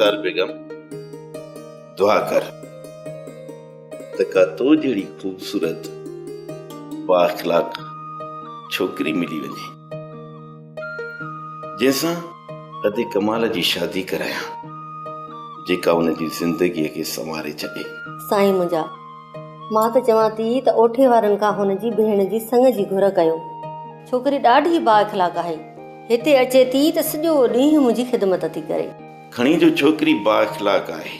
رخسار بيگم دعا ڪر ته ڪا تو جهڙي خوبصورت با اخلاق ڇوڪري ملي وڃي. جنهن سان ادي ڪمال جي شادي ڪرايان جيڪا ان جي زندگيء کي سنواري ڇڏي. سائين منهنجا! مان ته چوان ٿي ته اوٺي وارن کان هن جي ڀيڻ جي سڱ جي گهر ڪيو. ڇوڪري ڏاڍي با اخلاق آهي. هتي اچي ٿي ته سڄو ڏينهن منهنجي خدمت ٿي ڪري. کڻي جو ڇوڪري با اخلاق آهي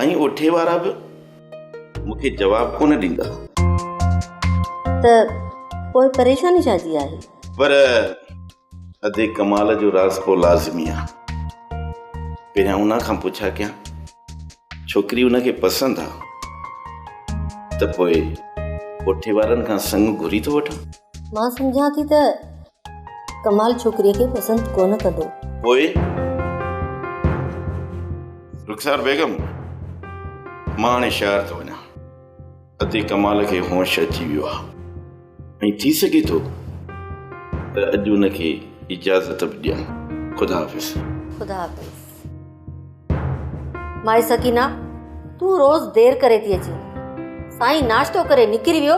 ۽ اوٺي وارا به. مون کي جواب ڪونه ڏيندا. ته پوء پريشاني ڇا جي آهي؟ پر ادي ڪمال جو راز ڪو لازمي آ. پهريان ان کان پڇا ڪيان. ڇوڪري ان کي پسند آ ته پوء ڪوٺي وارن کان سڱ گهري ٿو وٺان. مان سمجهان ٿي ته ڪمال ڇوڪريء کي پسند ڪونه ڪندو. پوء؟ رخسار بيگم، مان هاڻي شهر ٿو وڃان. اتي ڪمال کي هوش اچي ويو آهي ۽ ٿي سگهي ٿو ته اڄ ان کي اجازت به ڏيان. خدا حافظ. خدا حافظ. مائي سڪينه، تون روز دير ڪري ٿي اچين. سائين ناشتو ڪري نڪري ويو.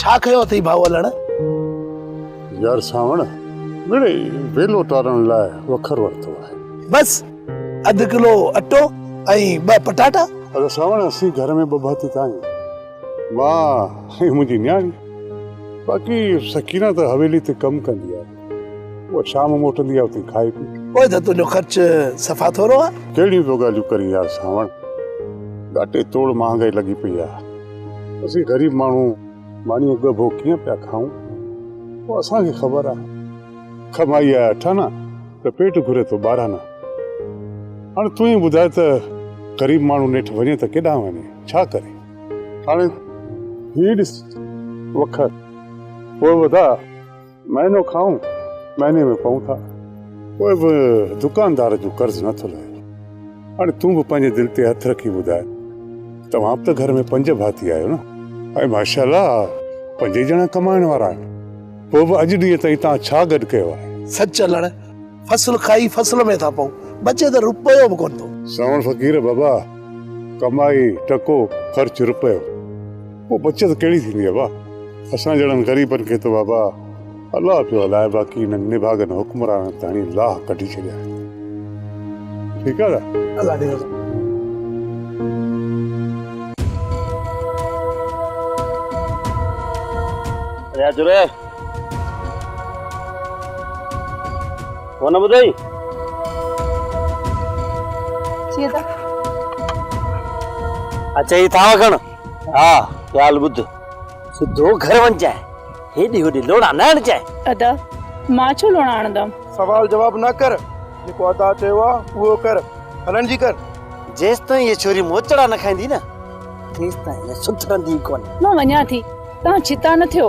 ڇا ڪيو اٿئي ڀائو علڻ؟ يار سانوڻ مڙئي ويلو ٽارڻ لاء وکر ورتو آهي. بس اڌ ڪلو اٽو ۽ ٻه پٽاٽا. اڙي سانوڻ اسين گهر ۾ ٻه ڀاتي ته آهيون مان ۽ منهنجي نياڻي باقي سڪينه ته حويلي تي ڪم ڪندي آهي. اها شام موٽندي آ اتي کائي پي. اوء ته تنهنجو خرچ صفا ٿورو آ. ڪهڙيون ٿو ڳالهيون ڪرين يار سانوڻ. ڳاٽي توڙ مهانگائي لڳي پئي آ. اسين غريب ماڻهو مانيون ڳڀو ڪيئن پيا کائون. اهو اسان کي خبر آ. ڪمائي آهي اٺ آنا ته پيٽ گهري ٿو ٻارهن آنا. هاڻي تون ئي ٻڌاء ته غريب ماڻهو نيٺ وڃي ته ڪيڏانهن وڃي؟ ڇا ڪري؟ هاڻي هي ڏس وکر. پوء وڌاء. مهينو کائون، مهيني ۾ پئون ٿا. پوء به دڪاندار جو قرض نه ٿو لهي. هاڻي تون به پنهنجي دل تي هٿ رکي ٻڌاء، توهان به ته گهر ۾ پنج ڀاتي آهيو نه؟ ۽ ماشاء الله پنج ئي ڄڻا ڪمائڻ وارا آهن. پوء به اڄ ڏينهن تائين توهان ڇا گڏ ڪيو آهي؟ سچ هلڻ فصل کائي فصل ۾ ٿا پئون. بچي ته رپيو به ڪونه ٿو. سانوڻ فقير بابا ڪمائي ٽڪو خرچ رپيو. پوء بچت ڪهڙي ٿيندي ابا. اسان جهڙن غريبن کي ته بابا الله پيو هلائي باقي انهن نڀاڳن حڪمرانن ته هڻي لاهه ڪڍي ڇڏيا آهن. ٺيڪ آهي نا. الله ڏي رزق. رياض ري. ڪو نه ٻڌئي؟ جيئن ته اچ هي ٿانو کڻ. ها ڳالهه ٻڌ. سڌو گهر وڃجانء. هيڏي هوڏي لوڙا نه آڻجانء. ادا، مان ڇو لوڙا آڻندم؟ سوال جواب نه ڪر. جيڪو ادا چيو آ، اهو ڪر. هلڻ جي ڪر. جيستائين هيء ڇوري موچڙا نه کائيندي نه، تيستائين هيء سڌرندي ئي ڪونه. مان وڃان ٿي. تان ڇتا نه ٿيو.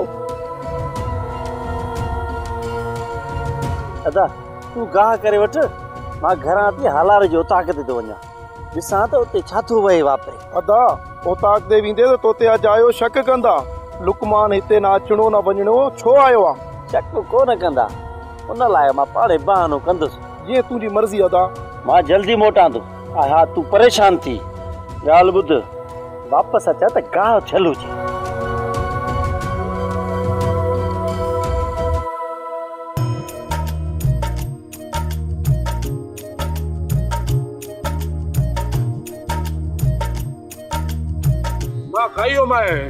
ادا تون گاهه ڪري وٺ مان گهران ٿي هالار جي اوطاق تي ٿو وڃان ڏسان ته اتي ڇا ٿو وهي واپري. ادا اوطاق تي ويندي ته توتي اجايو شڪ ڪندا لقمان هتي نه اچڻو نه وڃڻو ڇو آيو آ. شڪ ڪو نه ڪندا ان لاء مان پاڻهي بهانو ڪندس. جيئن تنهنجي مرضي ادا. مان جلدي موٽان ٿو. اها تون پريشان ٿي ڳالهه ٻڌ واپس اچ ها ته گاهه ڇل هجي. مان کائي ويو مانء.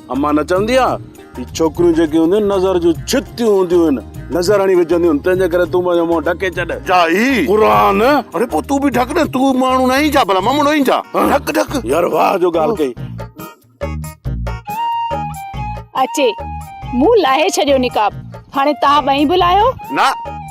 امان نه چوندي آ هي ڇوڪريون جيڪي هونديون نظر جون ڇتيون هونديون آهن نظر هڻي وجهنديون آهن تنهنجي ڪري تون پنهنجو منهن ڍڪي ڇڏ جا هي قرآن اري پو تون به ڍڪ نه تون ماڻهو نه آهين ڇا ڀلا ممڙو آهين ڇا ڍڪ ڍڪ يار واهه جو ڳالهه ڪئي اچي مون لاهي ڇڏيو نقاب هاڻي تان ٻئي به لاهيو نه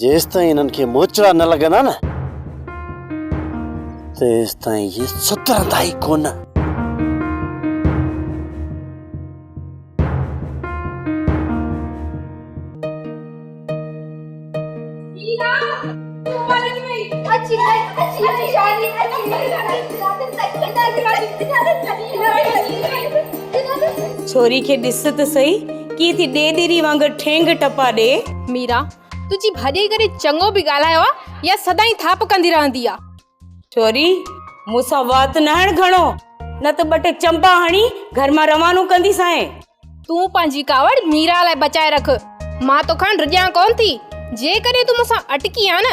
جيستائين هنن کي موچڙا نه لڳندا نه تيستائين هي سڌرندا ئي ڪونه. ڇوري کي ڏس ته سهي ڪيئن ٿي ڏيڏري وانگر ٺينگ ٽپا ڏي. ميرا، تنهنجي ڀاڄائي ڪڏهن چڱو به ڳالهايو آ يا سدائين ٿاپ ڪندي رهندي آ؟ شوري، مون سان وات نه هڻ گهڻو، نه ته ٻه ٽي چمپا هڻي گهر مان روانو ڪنديسانء. تون پنهنجي ڪاوڙ ميرا لاء بچائي رک، مان توکان رڄان ڪونه ٿي، جيڪڏهن تون مون سان اٽڪين ها نه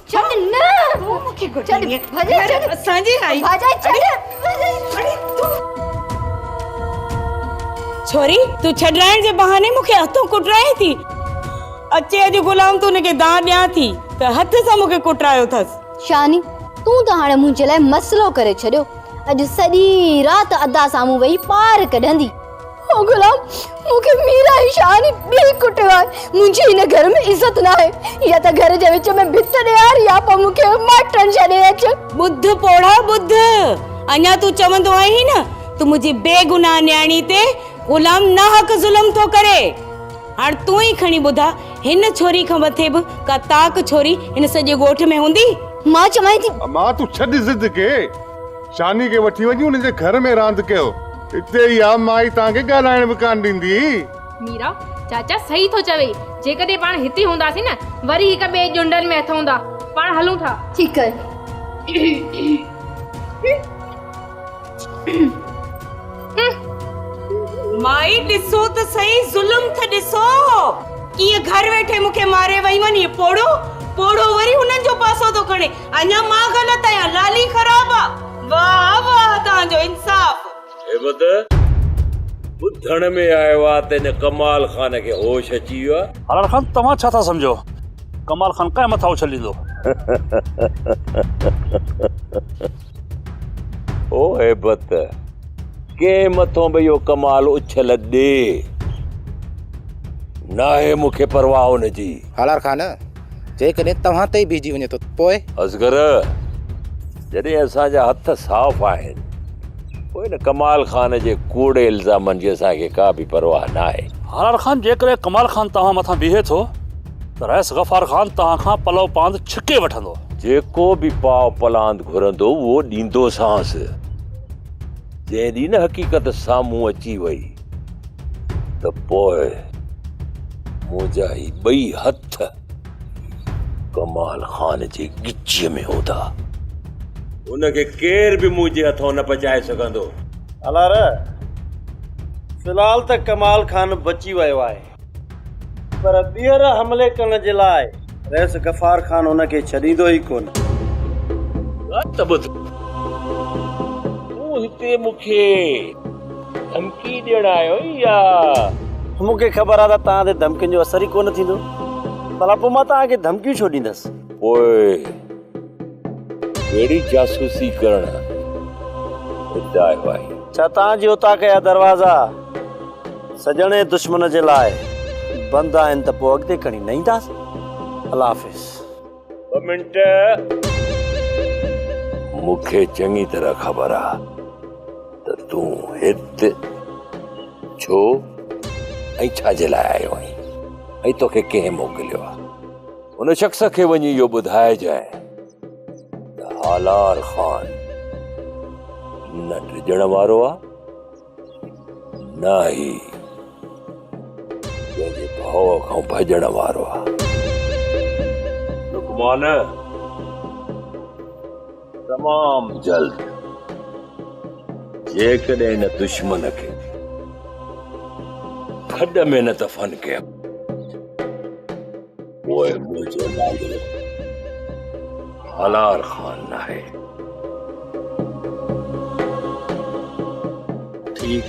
ڇڏ نه تون مون کي گهٽي ڏي ڀڄي ڇڏ اسان جي آئي ڀڄي ڇڏ اڙي تون ڇوري تون ڇڏرائڻ جي بهاني مون کي هٿون ڪٽرائين ٿي اچي اڄ غلام تون ان کي دان ڏيان ٿي ته هٿ سان مون کي ڪٽرايو اٿس شاني تون ته هاڻي منهنجي لاء مسئلو ڪري ڇڏيو اڄ سڄي رات ادا سامهون ويهي پار ڪڍندي او غلام! مون کي مير ۽ شاهه ني ٻيئي ڪٽيو آهي. منهنجي هن گهر ۾ عزت ناهي. يا ته گهر جي وچ ۾ ڀت ڏيار يا پوء مون کي ماٽرن جي ڏي اچ. ٻڌ پوڙها ٻڌ! اڃا تون چوندو آهين نه ته منهنجي بيگناهه نياڻي تي غلام ناحق ظلم ٿو ڪري. هاڻ تون ئي کڻي ٻڌاء هن ڇوري کان مٿي به ڪا طاق ڇوري هن سڄي ڳوٺ ۾ هوندي؟ مان چوانء ٿي. امان تون ڇڏ ضد کي. شاني کي وٺي وڃي ان جي گهر ۾ راند ڪيو. اتي اها مائي توهان کي ڳالهائڻ به ڪانه ڏيندي. ميرا، چاچا صحيح ٿو چوي. جيڪڏهن پاڻ هتي هونداسين نه وري هڪ ٻئي ڄنڊن ۾ هٿ هوندا. پاڻ هلون ٿا. ٺيڪ آهي. مائي ڏسو ته سهي ظلم تھ ڏسو. ڪيئن گهر ويٺي مون کي ماري ويون. هيء پوڙهو پوڙهو وري هنن جو پاسو ٿو کڻي. اڃا مان غلط آهيان لالي خراب آ. واهه واهه توهان جو انصاف. هيبت ٻڌڻ ۾ آيو آ ته هن ڪمال خان کي هوش اچي ويو آ. حلال خان توهان ڇا ٿا سمجهو ڪمال خان ڪنهن مٿان اڇليندو. او هيبت ڪنهن مٿون به اهو ڪمال اڇل ڏي ناهي مون کي پرواهه ان جي. حلال خان. جيڪڏهن توهان تي ئي بيهجي وڃي ٿو ته پوء؟ اصغر، جڏهن اسان جا هٿ صاف آهن، پوء ان ڪمال خان جي ڪوڙي الزامن جي اسان کي ڪا به پرواهه ناهي. هاران خان، جيڪڏهن ڪمال خان توهان مٿان بيهي ٿو ته رئيس غفار خان توهان کان پلو پاند ڇڪي وٺندو. جيڪو به پاء پلاند گهرندو اهو ڏيندوسانس. جنهن ڏينهن نه حقيقت سامهون اچي وئي ته پوء منهنجا هي ٻئي هٿ ڪمال خان جي ڳچيء ۾ هوندا. هن کي ڪير به منهنجي هٿان نه بچائي سگهندو. الارا، في الحال ته ڪمال خان بچي ويو آهي. پر ٻيهر حملي ڪرڻ جي لاء رئيس غفار خان ان کي ڇڏيندو ئي ڪونه. ڳالهه ته ٻڌ، تون هتي مون کي ڌمڪي ڏيڻ آيو آهين يا؟ مون کي خبر آهي ته توهان تي ڌمڪين جو اثر ئي ڪونه ٿيندو، ڀلا پوء مان توهان کي ڌمڪيون ڇو ڏيندس؟ پوء ڪهڙي جاسوسي ڪرڻ لاء آهي. ڇا تان جي اتان ڪيا دروازا سڄڻ ۽ دشمن جي لاء بند آهن ته پوء اڳتي کڻي نه اينداسين. الله حافظ. ٻه منٽ مون کي چڱي طرح خبر آ ته تون هت ڇو ۽ ڇا جي لاء آيو آهين ۽ توکي ڪنهن موڪليو آ. ان شخص کي وڃي اهو ٻڌائجانء ته هالار خان نه ڊڄڻ وارو آ نه هي پنهنجي ڀاء کان ڀڄڻ وارو آ لقمان تمام جلد جيڪڏهن ان دشمن کي کڏ ۾ نه دفن ڪيم پوء منهنجو نالو هلار خان ناهي ٺيڪ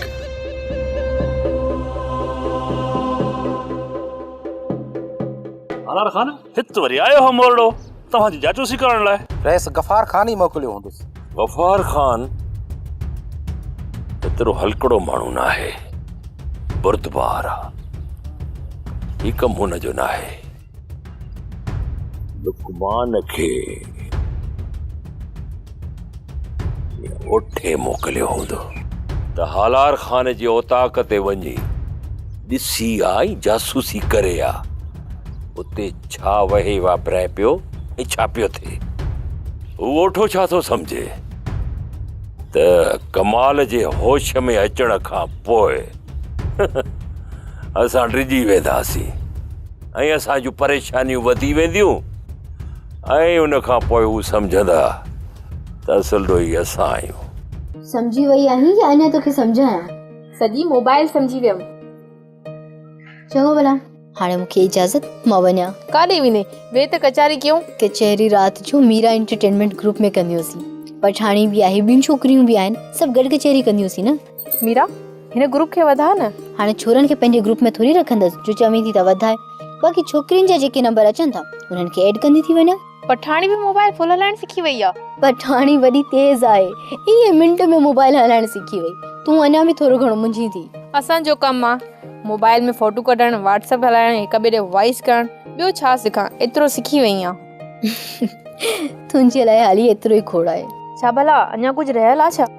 هلار خان هت وري آيو هو مورڙو توهان جي جاسوسي ڪرڻ لاء. رئيس غفار خان ئي موڪليو هوندس. غفار خان ايترو هلڪڙو ماڻهو ناهي، بردبار آ. هي ڪم هن جو ناهي. لقمان کي اوٺي موڪليو هوندو ته هالار خان جي اوطاق تي وڃي ڏسي آ ۽ جاسوسي ڪري آ. اتي ڇا وهي واپرائي پيو ۽ ڇا پيو ٿئي هو اوٺو ڇا ٿو سمجهي ته ڪمال جي هوش ۾ اچڻ کان پوء اسان ڊڄي وينداسين ۽ اسان جون پريشانيون وڌي وينديون ۽ ان کان پوء هو سمجهندا ته اصل ڏوهي اسان آهيون سمجهي وئي آهين يا اڃا توکي سمجهايان؟ سڄي موبائل سمجهي ويم. چڱو ڀلا هاڻي مون کي اجازت مان وڃان. ڪاڏي ويندين؟ ويهه ته ڪچهري ڪيون. ڪچهري رات جو ميرا انٽرٽينمينٽ گروپ ۾ ڪنديونسين. پٺاڻي به آهي، ٻيون ڇوڪريون به آهن، سڀ گڏ ڪچهري ڪنديونسين نه. ميرا، هن گروپ کي وڌاء نه. هاڻي ڇورن کي پنهنجي گروپ ۾ ٿوري رکندس، جو چوين ٿي ته وڌاء. باقي ڇوڪرين جا جيڪي نمبر اچن ٿا، انهن کي ايڊ ڪندي ٿي وڃان. پٺاڻي به موبائل فل هلائڻ سکي وئي آ. پٺاڻي وڏي تيز آهي ايئن منٽ ۾ موبائل هلائڻ سکي وئي تون اڃا به ٿورو گهڻو منجهين ٿي. اسان جو ڪم آ موبائل ۾ فوٽو ڪڍڻ واٽس اپ هلائڻ هڪ ٻئي ڏي وائيس ڪرڻ ٻيو ڇا سکان ايترو سکي وئي آن. تنهنجي لاء هالي ايترو ئي کوڙ آهي. ڇا ڀلا اڃا ڪجهه رهيل آ ڇا.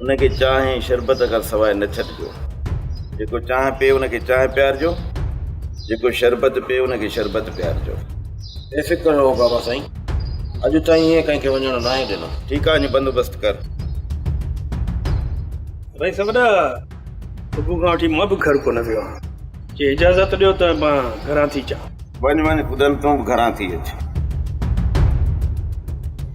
ان کي چانهه ۽ شربت کان سواء نه ڇڏجو. جيڪو چانهه پيئي ان کي چانهه پيارجو، جيڪو شربت پيئي ان کي شربت پيارجو. بي فڪر رهو بابا سائين، اڄ تائين ائين ڪنهن کي وڃڻ ناهي ڏنو. ٺيڪ آهي اڃ بندوبست ڪر. سائين سا وڏا، صبح کان وٺي مان به گهر ڪونه ويو آهيان. جي اجازت ڏيو ته مان گهران ٿي اچان. وڃ وڃ پدل تون به گهران ٿي اچ.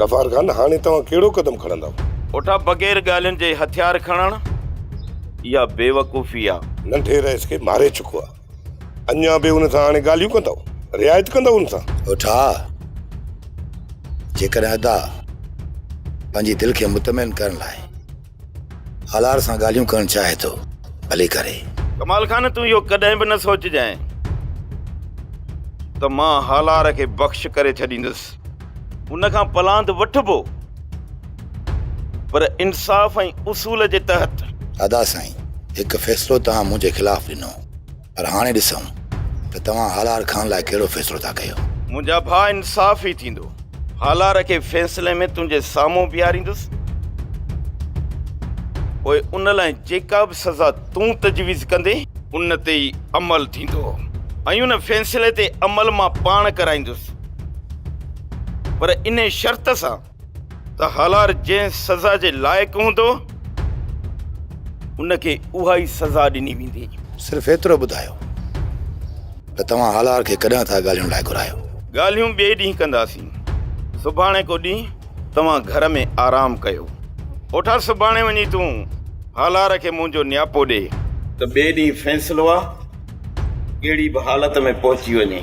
غفار خان هاڻي توهان ڪهڙو قدم کڻندؤ؟ پٽا بغير ڳالهين جي هٿيار کڻڻ اها بيوقوفي آ. ننڍي رئيس کي ماري چڪو آ اڃان به ان سان هاڻي ڳالهيون ڪندؤ؟ رعايت ڪندؤ ان سان؟ پٽا جيڪڏهن ادا پنهنجي دل کي مطمئن ڪرڻ لاء هالار سان ڳالهيون ڪرڻ چاهي ٿو ڀلي ڪري. ڪمال خان تون اهو ڪڏهن به نه سوچجانء ته مان هالار کي بخش ڪري ڇڏيندس. ان کان پلاند وٺبو پر انصاف ۽ اصول جي تحت. ادا سائين هڪ فيصلو توهان منهنجي خلاف ڏنو. پر هاڻي ڏسون ته توهان هالار خان لاء ڪهڙو فيصلو ٿا ڪيو. منهنجا ڀاء انصاف ئي ٿيندو. هالار کي فيصلي ۾ تنهنجي سامهون بيهاريندس. پوء ان لاء جيڪا به سزا تون تجويز ڪندين. ان تي ئي عمل ٿيندو ۽ ان فيصلي تي عمل مان پاڻ ڪرائيندس. پر انهي شرط سان. ته هالار جنهن سزا جي لائق هوندو، ان کي اها ئي سزا ڏني ويندي. صرف ايترو ٻڌايو ته توهان هالار کي ڪڏهن ٿا ڳالهيون لاء گهرايو؟ ڳالهيون ٻئي ڏينهن ڪنداسين. سڀاڻي ڪو ڏينهن توهان گهر ۾ آرام ڪيو. اوٺا سڀاڻي وڃي تون هالار کي منهنجو نياپو ڏي. ته ٻئي ڏينهن فيصلو آ ڪهڙي به حالت ۾ پهچي وڃي.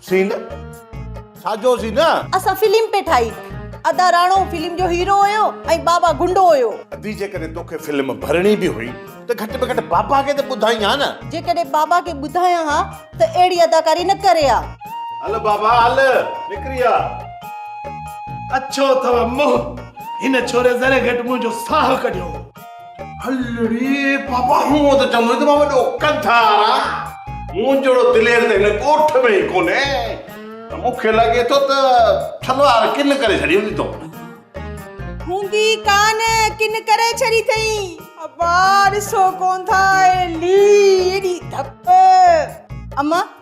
سين ساجو سين نه. اسان فلم پئي ٺاهي. ادا راڻو فلم جو هيرو هيو ۽ بابا گنڊو هيو. ادي جيڪڏهن توکي فلم ڀرڻي به هئي ته گهٽ ۾ گهٽ بابا کي ته ٻڌائين ها نه. جيڪڏهن بابا کي ٻڌايان ها ته اهڙي اداڪاري نه ڪري ها. هل بابا هل نڪري آ. اڇو اٿو منهن هن ڇوري ذري گهٽ منهنجو ساهه ڪڍيو هو. هلڙي بابا هونء ته چوندو هين ته مان وڏو ڪنڌار آهيان، مون جهڙو دلير ته هن ڳوٺ ۾ ئي ڪونهي، ته مون کي لڳي ٿو ته ڇلوار ڪن ڪري ڇڏي هوندي تو کان. هوندي ئي ڪانه، ڪن ڪري ڇڏي اٿئي. ابا ڏسو ڪون ٿا هلي، ايڏي ڌپ. امان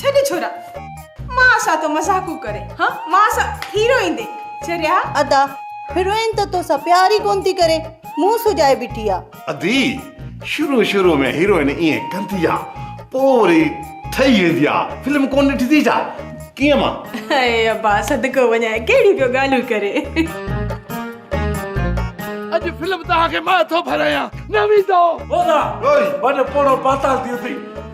ڇڏ ڇورا مان سان تو مذاقون ڪري ها مان سان هيروئن دي چريا. ادا هيروئن ته توسان پيار ئي ڪون ٿي ڪري منهن سجائي بيٺي آ. ادي شروع شروع ۾ هيروئن ائين ڪندي آ پو وري ٺهي ويندي آ فلم ڪون ڏٺي ٿي ڇا ڪيئن مان. اي ابا صدقو وڃان ڪهڙيون پيو ڳالهيون ڪري. اڄ فلم توهان کي مان ٿو ڀرايان نه ويندو. هو نا وڃ پوڙهو پاتال ٿي اٿئي.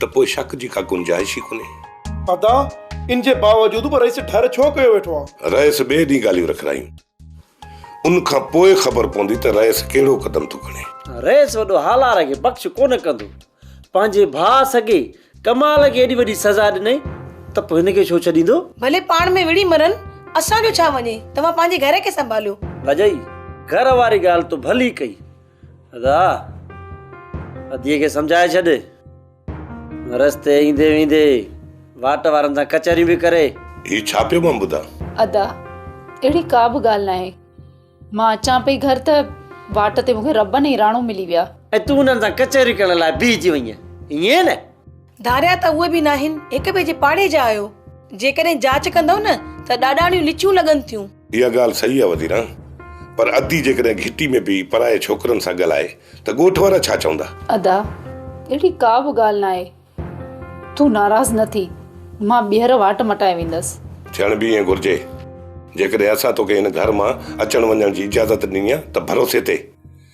ته پوء شڪ جي ڪا گنجائش ئي ڪونهي. ادا، ان جي باوجود به رئيس ڍر ڇو ڪيو ويٺو آ؟ رئيس ٻئي ڏينهن ڳالهيون رکرايون. ان کان پوء خبر پوندي ته رئيس ڪهڙو قدم ٿو کڻي. رئيس وڏو هالار کي بخش ڪونه ڪندو. پنهنجي ڀاء سگي ڪمال کي ايڏي وڏي سزا ڏنائين ته پوء هن کي ڇو ڇڏيندو؟ ڀلي پاڻ ۾ وڙهي مرن، اسان جو ڇا وڃي، توهان پنهنجي گهر کي سنڀاليو. ڀڄئي، گهر واري ڳالهه تو ڀلي ڪئي. ادا! اديء کي سمجهائي ڇڏ. رستي ايندي ويندي واٽ وارن سان ڪچهريون به ڪري. هي ڇا پيو مان ٻڌان؟ ادا! اهڙي ڪا به ڳالهه ناهي. مان اچان پئي گهر ته واٽ تي مون کي ربن ۽ راڻو ملي ويا. ۽ تون انهن سان ڪچهريون ڪرڻ لاء بيهجي وئينء، ائين نه؟ ڌاريا ته اهي به ناهن، هڪ ٻئي جي پاڙي جا آهيو. جيڪڏهن جاچ ڪندؤ نه ته ڏاڏاڻيون لچيون لڳن ٿيون. اها ڳالهه صحيح آ وزيران، پر ادي جيڪڏهن گهٽي ۾ پئي پرائي ڇوڪرن سان ڳالهائي ته ڳوٺ وارا ڇا چوندا؟ ادا، اهڙي ڪا به ڳالهه ناهي، تون ناراض نه ٿي، مان ٻيهر واٽ مٽائي ويندس. ٿيڻ به ائين گهرجي. جيڪڏهن اسان توکي هن گهر مان اچڻ وڃڻ جي اجازت ڏني آ ته ڀروسي تي.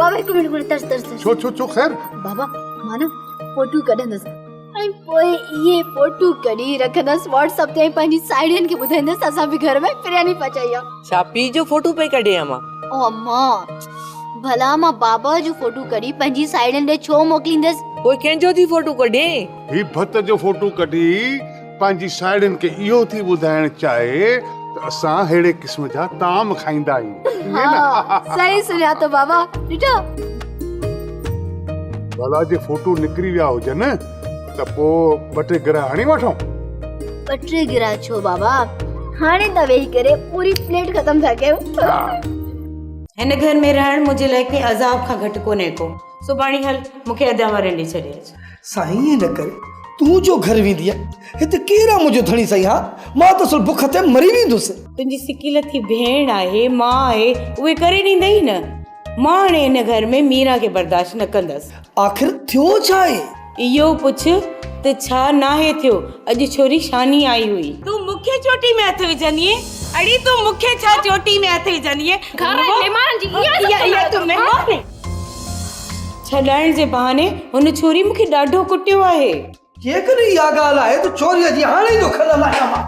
بابا هڪ منٽ منٽ ترس ترس ڇو ڇو ڇو خير بابا مان نه فوٽو ڪڍندس ۽ پوء اهي فوٽو ڪڍي رکندس واٽس اپ تي پنهنجي ساهيڙين کي ٻڌائيندس اسان به گهر ۾ فرياني پچائي آ ڇا پي جو فوٽو پئي ڪڍي اما او اما ڀلا مان بابا جو فوٽو ڪڍي پنهنجي ساهيڙين ڏي ڇو موڪليندس پوء ڪنهن جو ٿي فوٽو ڪڍين هي ڀت جو فوٽو ڪڍي پنهنجي ساهيڙين کي اهو ٿي ٻڌائڻ چاهي ته اسان ههڙي قسم جا طعام کائيندا آهيون ها صحيح سڃاتو بابا ڏٺو ڀلا جي فوٽو نڪري ويا هجن ته پو ٻه ٽي گرا هڻي وٺون ٻه ٽي گرا ڇو بابا هاڻي ته ويهي ڪري پوري پليٽ ختم ٿا ڪيون هن گهر ۾ رهڻ منهنجي لاء ڪنهن عذاب کان گهٽ ڪونهي ڪو سڀاڻي هل مونکي ادا وارين ڏي ڇڏي اچ سائين نڪر تون جو گهر وينديء، هت ڪير آ منهنجو ڌڻي سائين ها، مان ته اصل بک تي مري ويندس. تنهنجي سڪي لٿي ڀيڻ آهي، ماء آهي، اهي ڪري ڏيندئي نه. مان هاڻي هن گهر ۾ ميران کي برداشت نه ڪندس. آخر ٿيو ڇا آهي؟ اهو پڇ ته ڇا ناهي ٿيو، اڄ ڇوري شاني آئي هئي. تون مون کي چوٽي ۾ هٿ وجهندينء؟ اڙي تون مون کي ڇا چوٽي ۾ هٿ وجهندينء؟ گهر ۽ مهمانن جي اها ئي سڀ سماعت ڪرو ٿا. ڇڏائڻ جي بهاني هن ڇوري مون کي ڏاڍو ڪٽيو آهي. جيڪڏهن اها ڳالهه آهي ته ڇوريء جي هاڻي ئي ٿو کل لاهيان مان.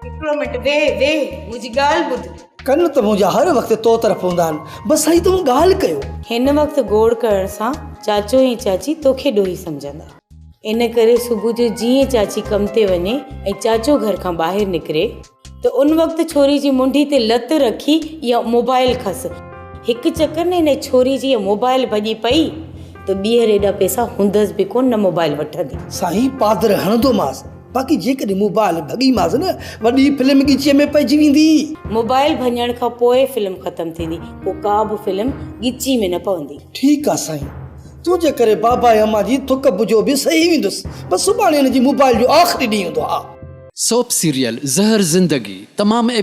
هڪڙو منٽ ويهه ويهه منهنجي ڳالهه ٻڌ. ڪن ته منهنجا هر وقت تو طرف هوندا آهن بس سائين تون ڳالهه ڪيو. هن وقت گوڙ ڪرڻ سان چاچو ۽ چاچي توکي ڏوهي سمجهندا. ان ڪري صبح جو جيئن چاچي ڪم تي وڃي ۽ چاچو گهر کان ٻاهر نڪري ته ان وقت ڇوري جي منڍي تي لت رکي يا موبائل کس هڪ چڪر نه ان ڇوري جي موبائل ڀڄي پئي ته ٻيهر ايڏا پئسا هوندس به ڪونه نه موبائل وٺندي. سائين پادر هڻندومانس باقي جيڪڏهن موبائل ڀڳيمانس نه وڏي فلم ڳچيء ۾ پئجي ويندي. موبائل ڀڃڻ کان پوء فلم ختم ٿيندي پوء ڪا به فلم ڳچي ۾ نه پوندي. ٺيڪ آ سائين. تون جي ڪري بابا ۽ امان جي ٿڪ بجو به سهي ويندس بس سڀاڻي هن جي موبائل جو آخري ڏينهن هوندو ها. سوپ سيريل زهر زندگي تمام.